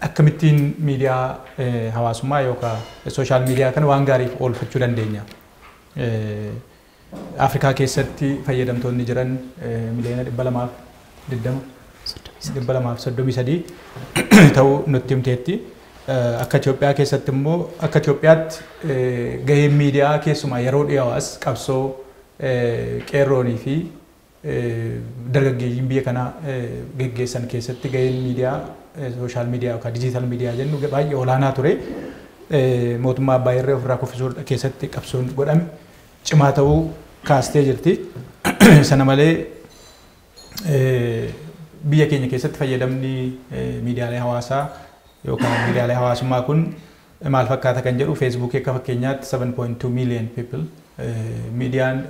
Akkamittiin miidiyaa hawaasummaa yookaan sooshaal miidiyaa kana waan gaariif oolfachuu dandeenya? Afrikaa keessatti fayyadamtoonni jiran miliyoona 220 233 ta'uu nutti himteetti. Akka Itoophiyaa keessatti immoo akka Itoophiyaatti gaheen miidiyaa keessumaa yeroo dhiyoo as qabsoo qeerroonii fi Dargaggeeyyiin biyya kana geggeessan keessatti gaheen miidiyaa sooshaal miidiyaa yookaan dijiitaal miidiyaa jennu baay'ee olaanaa ture. Mootummaa abbaa irree ofirraa kuffisuu keessatti qabsoon godhame cimaa ta'uu kaastee jirti. Sana malee biyya keenya keessatti fayyadamni miidiyaalee hawaasaa yookaan miidiyaalee hawaasummaa kun maal fakkaata kan jedhu Facebook akka fakkeenyaatti 7.2 million people miidiyaan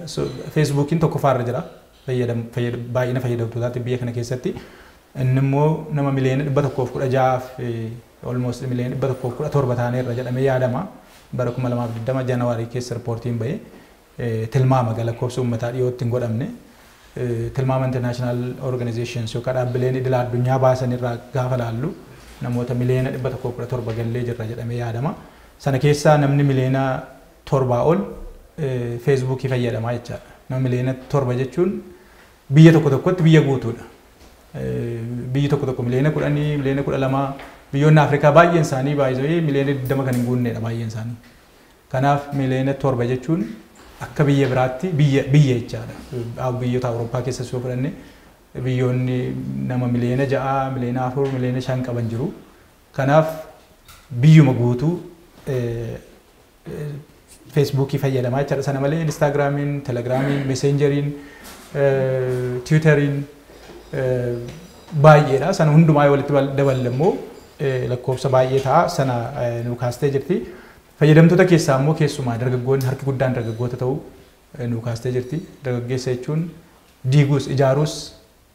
Facebookiin tokkoffaa irra jira baay'ina fayyadamtootaatti biyya kana keessatti inni immoo nama miliyoona 116 fi almost miliyoona 117 taanee irra jedhamee yaadama bara 2020 January keessa riippoortiin ba'e tilmaama ga lakkoofsa uummataa dhiyootti hin godhamne tilmaama international organizations yookaan dhaabbileen idila addunyaa baasan irraa gaafa laallu namoota miliyoona 117 gallee jirra jedhamee yaadama. Sana keessaa namni miliyoona torbaa ol feesbuukii fayyadamaa jechaadha. Nama miliyoona torba jechuun biyya tokko tokkotti biyya guutuudha. Biyyi tokko tokko miliyoona kudhanii, miliyoona kudha lamaa biyyoonni Afrikaa baay'een isaanii baay'ee miliyoona 20 kan hin guunneedha baay'een isaanii. Kanaaf miliyoona 7 jechuun akka biyya biraatti biyya biyya jechaadha. Aw- Biyyoota Awurooppaa keessas yoo fudhanne biyyoonni nama miliyoona 6, miliyoona 4, miliyoona 5 qaban jiru. Kanaaf biyyuma guutuu eh, eh, feesbuukii fayyadamaa jechaadha. Sana malee Instaagiraamiin, Telegiraamiin, Meseenjeriin, eh, Tiwutariin eh, baay'eedha. Sana hundumaa yoo walitti bal- daballe immoo eh, lakkoofsa baay'ee ta'a. Sana eh, nuu kaastee jirti. Fayyadamtoota keessaa ammoo keessumaa dargaggoonni harki guddaan dargaggoota ta'uu nuu kaastee jirti. Dargaggeessa jechuun diiguus ijaaruus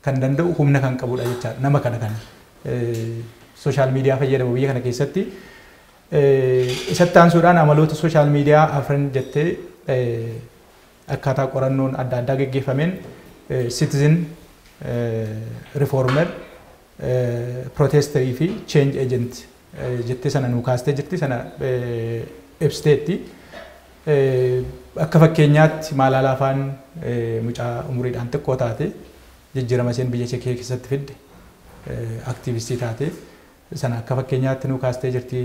kan danda'u humna kan qabudha jechaadha. Nama kana kan sooshaal miidiyaa fayyadamu biyya kana keessatti. Isatti aansuudhaan amaloota sooshaal miidiyaa afran jettee akkaataa qorannoon adda addaa geggeeffameen citizen reformer, protester fi change agent jettee sana nuu kaastee jirti sana ibsiteetti. Akka fakkeenyaatti maalaalaa afaan mucaa umuriidhaan xiqqoo taate jijjiirama isheen biyya Chekee keessatti fidde aktiivistii taate sana akka fakkeenyaatti nuu kaastee jirti.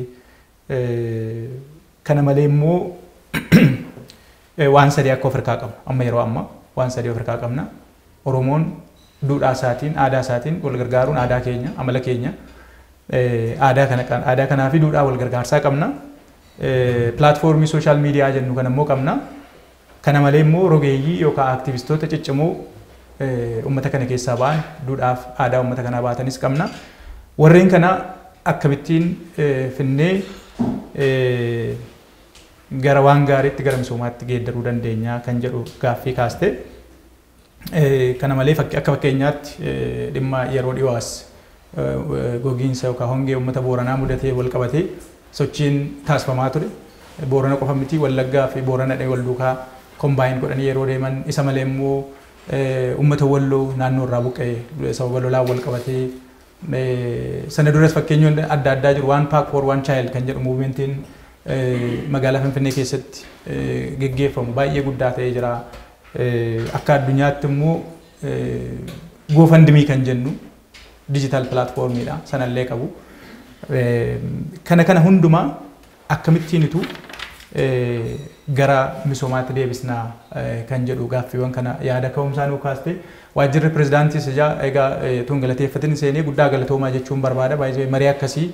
Kana malee immoo Waan sadii akka of harkaa qabnu amma yeroo ammaa waan sadii of harkaa qabna. Oromoon duudhaa isaatiin, aadaa isaatiin wal gargaaruun aadaa keenya, amala keenya. Aadaa kana qabna. Aadaa kanaa fi duudhaa wal gargaarsaa qabna. Pilaatfoormii sooshaal miidiyaa jennu kana immoo qabna. Kana malee immoo rogeeyyii yookaan aktivistoota ciccimoo uummata kana keessaa ba'an duudhaaf aadaa uummata kanaa baatanis qabna. Warreen kana akkamittiin finnee gara waan gaariitti gara misoomaatti geeddaruu dandeenya kan jedhu gaaffii kaaste. Kana malee fakki- akka fakkeenyaatti eh, dhimma yeroo dhiyoo as eh, gogiinsa yookaan hongee uummata Booranaa mudatee wal qabatee sochiin taasifamaa ture. Boorana qofa miti Wallaggaa fi Boorana dhee wal duukaa kombaayin godhanii yeroo deeman isa malee immoo eh, uummata Walloo naannoo irraa buqqa'e sababa lolaan wal qabatee Sana duras fakkeenyonni adda addaa jiru. One Pack for One Child kan jedhu muuvimentiin magaalaa Finfinnee keessatti geggeeffamu baay'ee guddaa ta'ee jira. Akka addunyaatti immoo GoFundMe kan jennu digital platformidha. Sanallee qabu. Kana kana hundumaa Akkamittiinitu gara misoomaatti deebisna kan jedhu gaaffiiwwan kana yaada ka'umsaa nuu kaaste. Waajjirri Pirezidaantiis ijaa egaa utuu hin galateeffatin hin seenee guddaa galatoomaa jechuun barbaada. By the way marii akkasii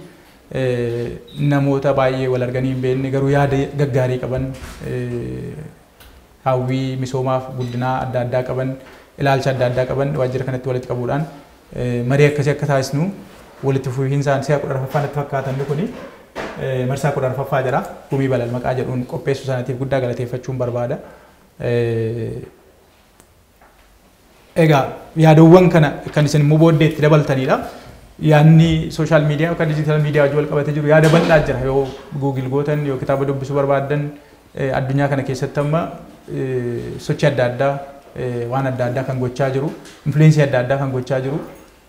namoota baay'ee wal arganii hin beekne garuu yaada gaggaarii qaban hawwii misoomaaf guddinaa adda addaa qaban, ilaalcha adda addaa qaban waajjira kanatti walitti qabuudhaan marii akkasii akka taasisnu walitti fufiinsaan si'a 14ffaa natti fakkaata inni kuni marsaa 14ffaa jedha gumii balal maqaa jedhuun qopheessuu isaaniitiif guddaa galateeffachuun barbaada. Egaa yaadawwan kana kan isin immoo booddee itti dabaltaniidha. Yaadni sooshaal miidiyaa yookaan diijitaal miidiyaa wajjin wal qabatee jiru yaada bal'aa jira. Yoo guugil gootan yoo kitaaba dubbisuu barbaaddan addunyaa kana keessatti amma sochii adda addaa waan adda addaa kan gochaa jiru, influensii adda addaa kan gochaa jiru.